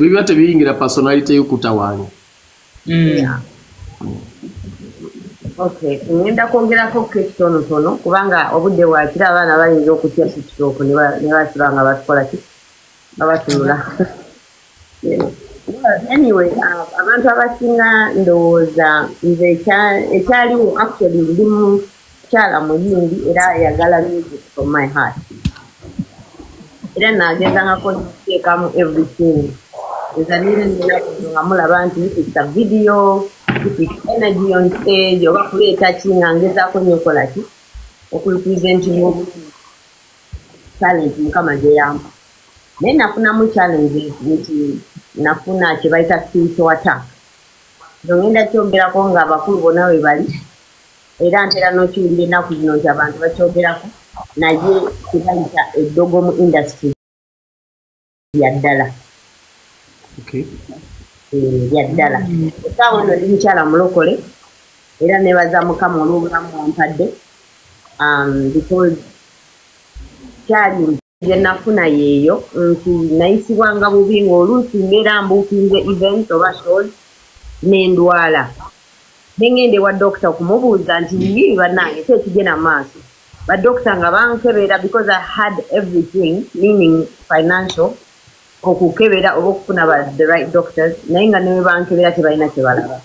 biba tebiyingira personality yokutawaanya mm. Okay, ngenda kwongerako kekitonotono kubanga obudde wakira abaana bayinza okutya tiktok nebasiba nga batukola ki babatunula anyway uh, abantu abasinga ndowooza nze ekyaliwo actually ndi mukyala muyimbi era ayagala music from my heart era nagezangako nteekamu everything ezanire ninakuno nga mulaba nti ifikisa video ifix energy on stage oba kuleeta ki nga ngezaako nyo okola ki okurepresentinga obulungi talenti mukama gyeyamba naye nafunamu challenges nti nafuna kyebayita spiritual attack nongenda kyongerako nga abakulu bona webali era ntera n'okiwulira ennaku zino nti abantu bakyogerako naye kibayita eddogo mu industry yaddala eh, yaddala esaawa ono ndi mukyala mulokole era nebaza mukama olw'obulamu wampadde um, because kyali gye nafuna yeeyo nti nayisibwanga bubi ng'oluusi mbeera mbuukinze events oba shows n'endwala ne ng'enda ewa dokita okumubuuza nti yii bannange ki ekigenda mu maaso badokita nga bankebera because i had everything meaning financial okukebera oba okufuna ba the right doctors naye nga newe bankebera tebalina kyebalaba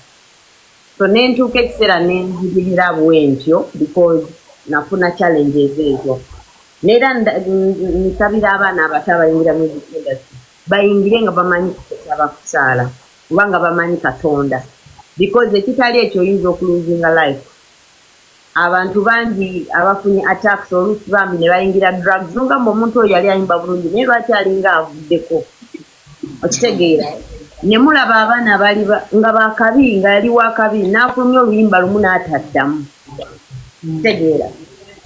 so nentuuka ekiseera nenzibirira bwentyo because nafuna challenges ezo neera nsabira abaana abato abayingira music industry bayingire nga bamanyi kusaba kusaala oba nga bamanyi katonda because ekitali ekyo oyinza okuluzinga life abantu bangi abafunye attacks oluusi bambi ne bayingira drugs nogamba omuntu oyo yali ayimba bulungi naye lwaki alinga avuddeko okitegeera ne mulaba abaana bali nga bakabi nga yali wakabi n'afulumya oluyimba lumu n'ataddamu okitegeera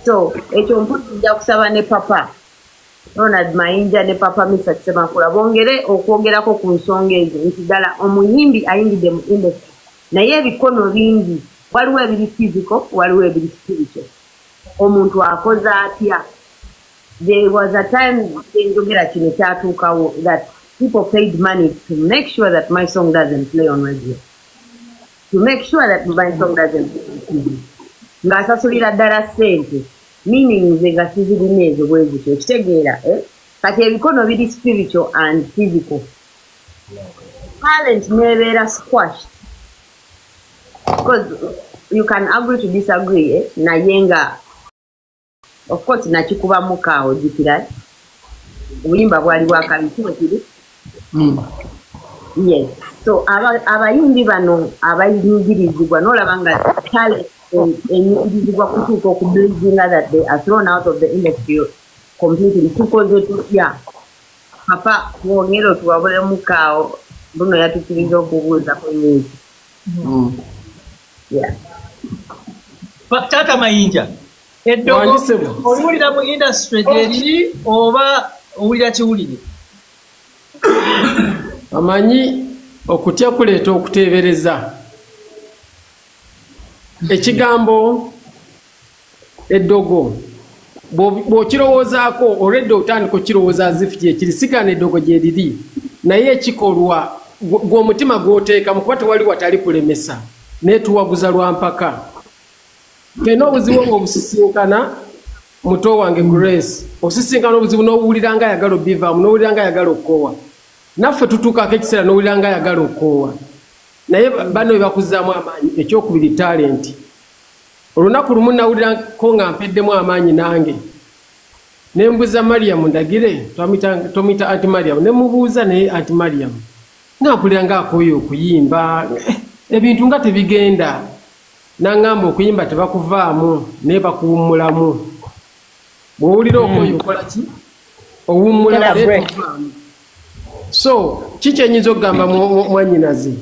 so ekyo mpozi nja kusaba ne papa ronald mayinja ne papa misa semakula bongere okwogerako ku nsonga ezo nti ddala omuyimbi ayingidde mu industry naye ebikono bingi waliwo ebiri fiziko waliwo ebiri spirito omuntu akoze atya there was a time kyenzogera kino kyatuukawo that people paid money to make sure that my song doesn't play on radio to make sure that my song doesn't play on tv ng'asasulira ddala ssente meaning ze nga sizirina ezo bwezityo okitegeera eh? kati ebikono biri spiritual and physical talent nebeera squashed because you can agree to disagree eh? naye nga of course nakikuba muka ojukira obuyimba bwali bwakabisiwekiri hmm. yes so abayimbi bano abayingirizibwa nolaba nga tale enyingirizibwa kutuuka okublizinga that they are thrown out of the industry completely tukoze tutya papa twongere otuwabule mukaawo buno yatukiriza okubuuza ku nyingi hmm. taata mayinja eddogo oliwulira mu industry gyeriri oba owulira kiwulire amanyi okutya kuleeta okuteebereza ekigambo eddogo bw'okirowoozaako olwedde otandika okukirowooza zifu kyekiri sigana eddogo gyeriri naye ekikolwa gw'omutima gw'oteekamu kuba tewali watali kulemesa naye tuwaguza lwa mpaka fena obuzibu obwo obusisinkana muto wange grace osisinkana obuzibu n'owulira nga ayagala obivaamu n'owulira nga ayagala okukoowa naffe tutuukaako ekiseera n'owulira nga ayagala okukoowa naye bano bebakuzaamu amaanyi ekyokubiri talenti olunaku lumu nawulirako nga mpeddemu amaanyi nange nembuza mariyamu ndagire tomita anti mariyamu nemubuuza naye anti mariyamu ngampulira nga akooyo okuyimba eh, ebintu nga tebigenda Nangamba okuyimba tebakuvaamu naye bakuwummulamu. Bw'owulira okoye hmm. okola ki? Owummulamu naye tokuvaamu. So ki kyenyinza okugamba mwanyinazi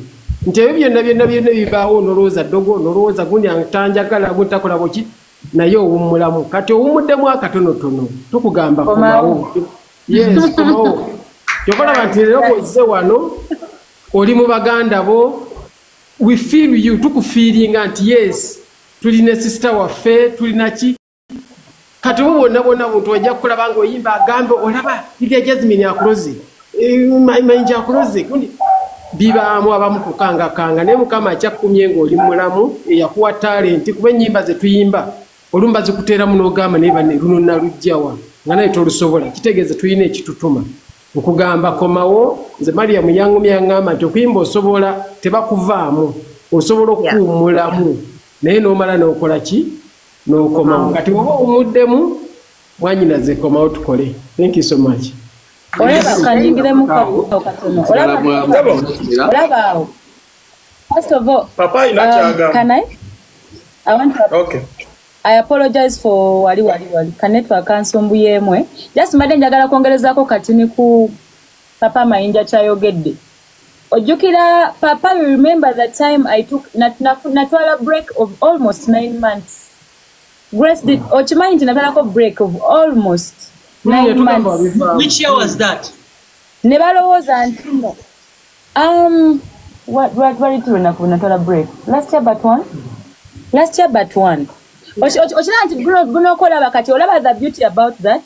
nti ebyo byonna byonna byonna bibaawo nolowooza ddogo nolowooza gundi atanjagala gundi takolabo ki naye owummulamu kati owummuddemu akatonotono tukugamba komawo yes komawo kyokolaba nti leero bwozze wano oli mu baganda bo We feel you tukufiiringa nti yes tuli ne sister waffe tulina ki kati oba bwonna bwonna buntu wajja kukulaba nga oyimba agambe olaba lilya jasmine akuloze eh, mayinja akuloze gundi bibaamu abamu kukangakanga naye mukama akyakkumye ngaoli mulamu eyakuwa talenti kuba enyimba zetuyimba olumba zikuteeramu n'ogamba naye bane luno nalujjawa nga naye tolusobola kitegeeza tulina ekitutuma Okugamba komawo nze Mariam yangumya yangamba nti okuyimba osobola tebakuvaamu osobola okuwummulamu naye n'omala n'okola ki n'okomawo kati woba owumuddemu mwanyinaze komawo tukole thank you so much olaba kanyingiremu kabuto katono olaba awo first of all um, can I? I want to okay. I apologize for wali wali wali kanetwa kansumbu yemwe just mbadde njagala kwongerezaako katini ku papa mayinja kyayogedde ojjukira papa you remember the time i took natwala nat, break of almost nine months grace did mm. okimanyi nti natwalako break of almost mm, nine months which year was that ne balowooza ntino Um, lwali tulwenaku bwenatwala break last year but one last year but one okiraba nti gunokolaba kati olaba the beauty about that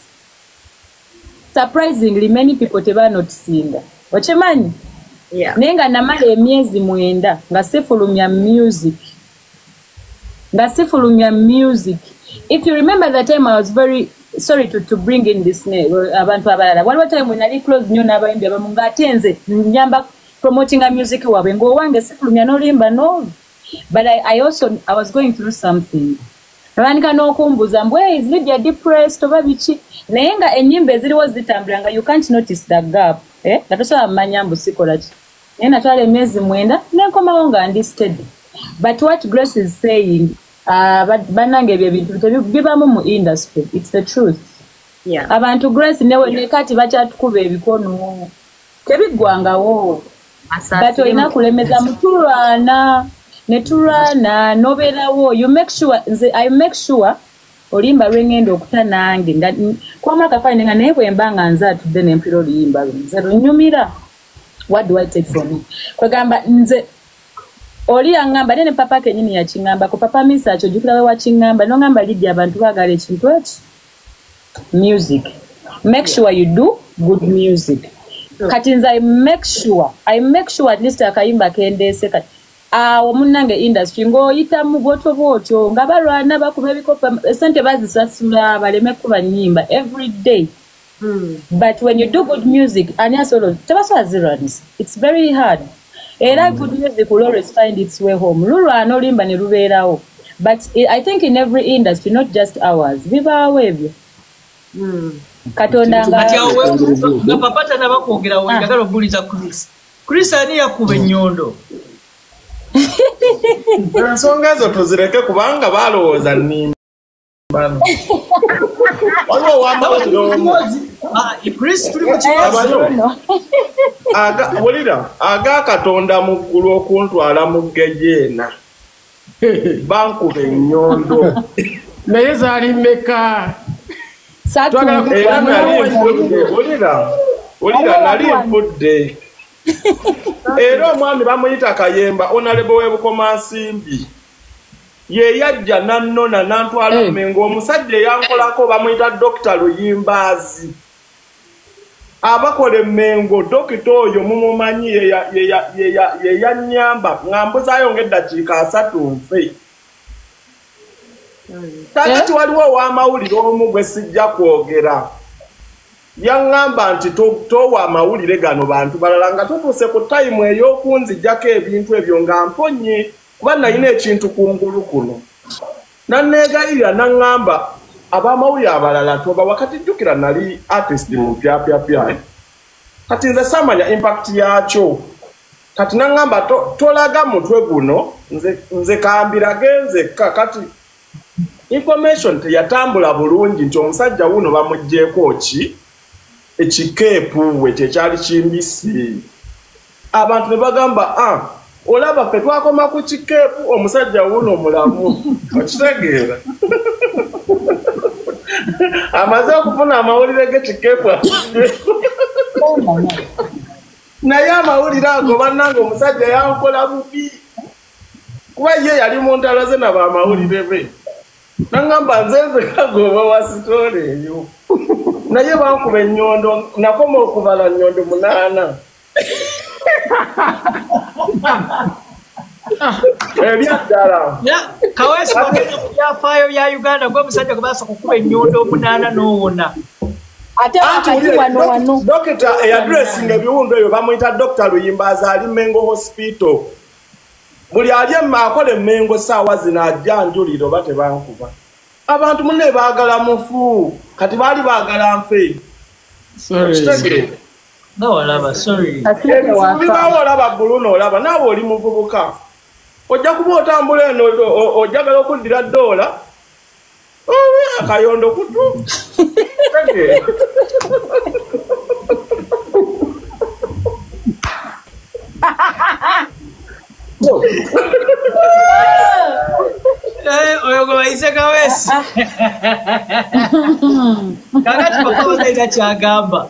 surprisingly many people tebanotisinga okimanyi naye nga namala emyezi mwenda nga sifulumya music nga sifulumya music if you remember the time i was very sorry to, to bring in this name uh, abantu abalala waliwo time wenali close nyo n'abayimbi abamu ng'ate nze nyamba promotinga music waabwe ng'owange sifulumya nolimba no but I, i also i was going through something abandika n'okumbuza mbu hey, is lydia depressed oba biki naye nga ennyimba eziriwo zitambula nga you can't notice the gap eh? nga tosobola mumanya mbu sikolaki naye natwala emyezi mwenda nenkomawo nga ndi steady but what grace is saying uh, banange ebyo ebintu bibamu mu industry its the truth yeah. abantu grace newe yeah. nekati bakyatukuba ebikono tebiggwangawo but olina kulemeza mutulwana netulwana noberawo you make sure nze i make sure oluyimba lwengenda okuta nange kwamulakafaine nga naye bwemba nga nze atudde nempira oluyimba lwe nze lunyumira what do i take from you kwegamba nze oli yangamba nene papa kenyini yakingamba ku papa misa akyo jukira we wakingamba no ngamba lidi abantu bagala ekintu eki music make sure you do good music kati nze i make sure i make sure at least akayimba kendese kati awo munange industry ng'oyita mu bwoto bwotyo nga balwana bakuba ebikopa esente bazisasula baleme kuba nyimba every day Hmm. but when you do good music ani asobola tebasobola zirans its very hard era hmm. good music will always find its way home lulwana olimba ne lubeerawo but i think in every industry not just ours bibaawo ebyo hmm. katonda nga papa tanaba kwogera weyagala ah. okubuliza chris chris ani yakuba ennyondo ensonga ezo tuzireke kubanga balowooza nimba waliwo wambaozi kristo tuli mukiwulira aga katonda mu ggulu okuntwala mu gejeena bankuba enyondo naye zaali mmeka era nali nfudde wulira wulira nali nfudde era omwami bamuyita kayemba onalebo webukomansimbi yeyajja nanona nantwala eh. mengo omusajja eyankolako bamuyita dokita luyimbaazi abakola emengo dokita oyo mumumanyi yeyanyamba ngambuzayo ngaeddakiika asatu nfe kakati eh? waliwo owamawulire omu gwe sijja kwogera yaŋŋamba nti towa amawulire gano bantu balala nga tutuuse ku tayimu ey'okunzijjako ebintu ebyo nga mponyi kuba nalina ekintu kungulu kuno naneegayirira naŋŋamba abamawulire abalala toba wakati jjukira nali artist mu pyapyapya kati nze saamanya impact yaakyo kati naŋŋamba tolaga mutwe guno nze kambirage nzekka kati information teyatambula bulungi nti omusajja wuno bamugjeeko ki ekikeepu we kyekyali kimbisi abantu ne bagamba a ah, olaba ffe twakoma ku kikeepu omusajja wuuno mulamu okitegeera amaze okufuna amawulire gekikeepu naye amawulire ago bannanga omusajja yankola bubi kuba ye yali mu ntalo ze nabo amawulire be nangamba nze nzekagoba wa sitoola eyo naye bankuba ennyondo nakoma okubala nnyondo munaana ebyaddala kaweesi wagenda ku byafaayo bya uganda gwe omusajja gwe basooka okukuba ennyondo omunaana n'owona dokita eyaduresinga ebiwundu ebyo bamuyita dokita luyimba azaali mengo hospital buli ali akola emengo saawa zino ajja njulira oba tebankuba abantu mune baagala mufu kati baali baagala nfe bawalaba sorry bawalaba bulu nolaba naawe oli muvubuka ojja kuba otambula eno ojagala okuddira doola akayondo kutu Eh, oyo gwe bayise kawesi kakati papa bataina kyagamba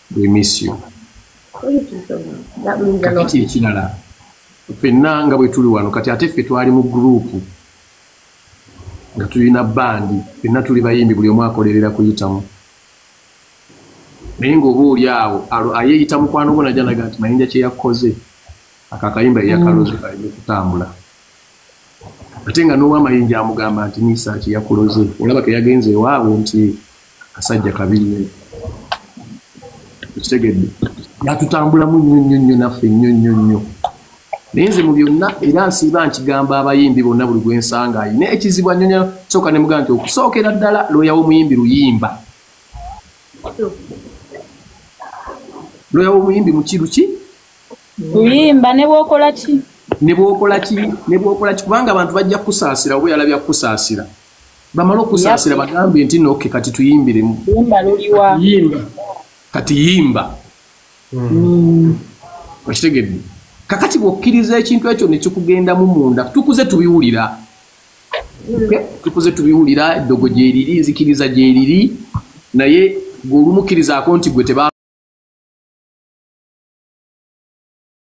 we miss you kakiti ekirala fenna nga bwe tuli wano kati ate ffe twali mu gurupu nga tulina bandi fenna tuli bayimbi buli omu akolerera kuyitamu naye ngaoba oli awo ayeyita mukwano gwo najanaga nti mayinja kyeyakoze akakayimba eyakaloze mm. kaleme kutambula ate nga n'owamayinja amugamba nti nisa kyeyakuloze olaba keyagenze ewaabwe nti kasajja kabinyo kitegedde yatutambulamu nnyo nnyo nnyo naffe nnyo nnyo nnyo naye nze mu byonna era nsiiba nkigamba abayimbi bonna buli gwe nsanga ayina ekizibu anyonya sooka ne mugamba nti okusookera ddala looya w'omuyimbi luyimba looya w'omuyimbi mukiru ki luyimba ne bwokola ki ne bwokola ki ne bwokola ki kubanga abantu bajja kukusaasira oba yalabya kukusaasira bamala okusaasira bagambye nti noke kati tuyimbiremu kati yimba hmm. okitegedde kakati bwokkiriza ekintu ekyo nekikugendamu munda tukuze tubiwulira tukuze tubiwulira eddogo gyeriri nzikiriza gyeriri naye gweolumukirizaako nti gwe teba